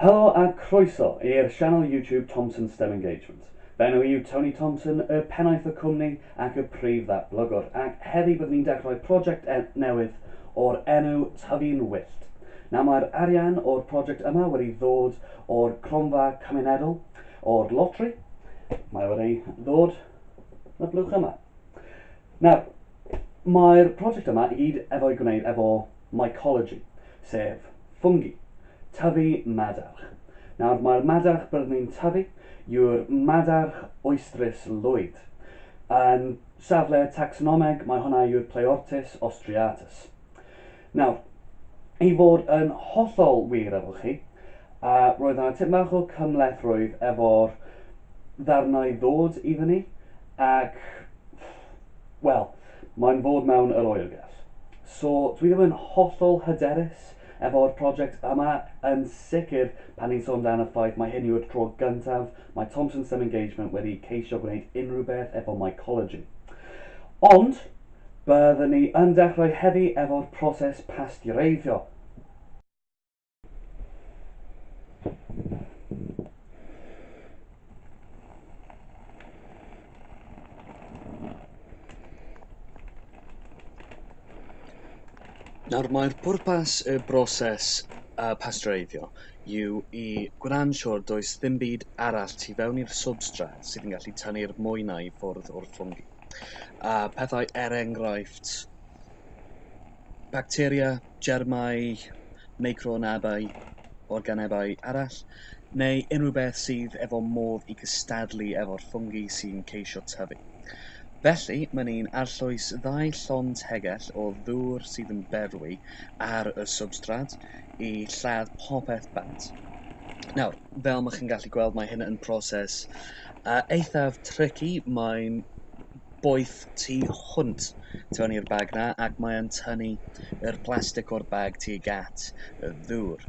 Helo a croeso i'r sianel YouTube Thompson Stem Engagement. Fy enw i yw Tony Thompson, y pennaeth y cwmni ac y prif ddatblygwr, ac heddi byddwn i'n dechrau prosiect e- newydd o'r enw Tyfu'n Wyllt. Nawr mae'r arian o'r prosiect yma wedi ddod o'r cronfa cymunedol, o'r lotri, mae wedi ddod y blwch yma. Nawr, mae'r prosiect yma i gyd efo'i gwneud efo mycology, sef ffwngi, tyfu madarch. Nawr, mae'r madarch byddwn ni'n tyfu yw'r madarch oestrys lwyd. Yn safle tacsonomeg, mae hwnna yw'r Pleortis ostreatus. Nawr, i fod yn hollol wir efo chi, roedd yna tip mach o cymhleth-rwydd efo'r ddarnau ddod i fyny, ac, wel, mae'n fod mewn yr oergell. So, dwi ddim yn hollol hyderus efo'r project yma, yn sicr pan ni'n sôn amdan y ffaith mai hyn yw'r tro gyntaf mae Thompson Stem Engagement wedi ceisio gwneud unrhyw beth efo mycology. Ond, Byddwn ni yn dechrau heddi efo'r proses pasteureiddio. Nawr, mae'r pwrpas y broses uh, pasteureiddio yw i gwna'n siŵr does ddim byd arall tu fewn i'r substrat sydd yn gallu tanu'r mwynau i ffwrdd o'r ffwngi. a pethau er enghraifft bacteria, germau, meicroorganebau organebau arall, neu unrhyw beth sydd efo modd i gystadlu efo'r ffwngi sy'n ceisio tyfu. Felly, mae'n un arllwys ddau llond tegell o ddŵr sydd yn berwi ar y swbstrad i lladd popeth bant. Nawr, fel mae chi'n gallu gweld mae hyn yn proses Yy eithaf tricky mae'n boeth tu hwnt ti mewn i'r bag 'na ac mae e'n tynnu yr plastic o'r bag tuag at y ddŵr.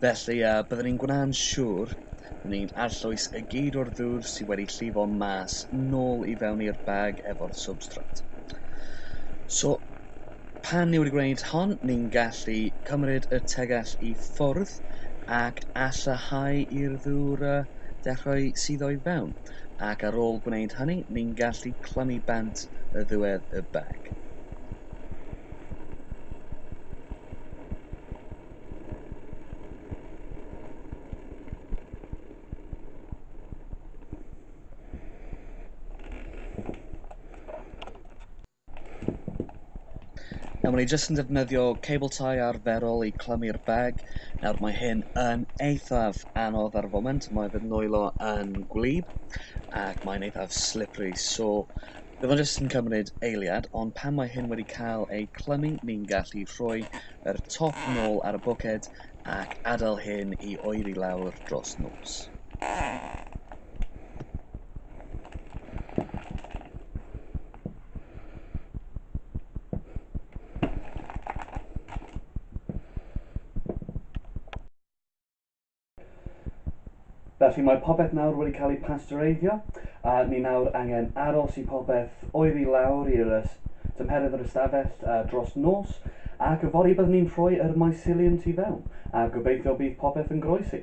Felly yy byddwn ni'n gwna'n siŵr bod ni'n arllwys y gyd o'r ddŵr sy wedi llifo mas nôl i fewn i'r bag efo'r substrate. So Pan yw'r gwneud hon, ni'n gallu cymryd y tegell i ffwrdd ac allanhau i'r ddŵr y dechrau sydd o'i fewn, ac ar ôl gwneud hynny, ni'n gallu clymu bant y ddiwedd y bag. Nawr mae ni jyst yn defnyddio cable tie arferol i clymu'r bag. Nawr mae hyn yn eithaf anodd ar y foment, mae fy nwylo yn gwlyb ac mae'n eithaf slippery, so bydd o'n jyst yn cymryd eiliad, ond pan mae hyn wedi cael ei clymu, ni'n gallu rhoi yr top nôl ar y bwced ac adael hyn i oeri lawr dros nos. Felly mae popeth nawr wedi cael ei pastereiddio a ni nawr angen aros i popeth oeri lawr i'r tymheredd yr ystafell uh, dros nos ac y fori byddwn ni'n rhoi yr mycelium tu fewn a gobeithio bydd popeth yn groesi.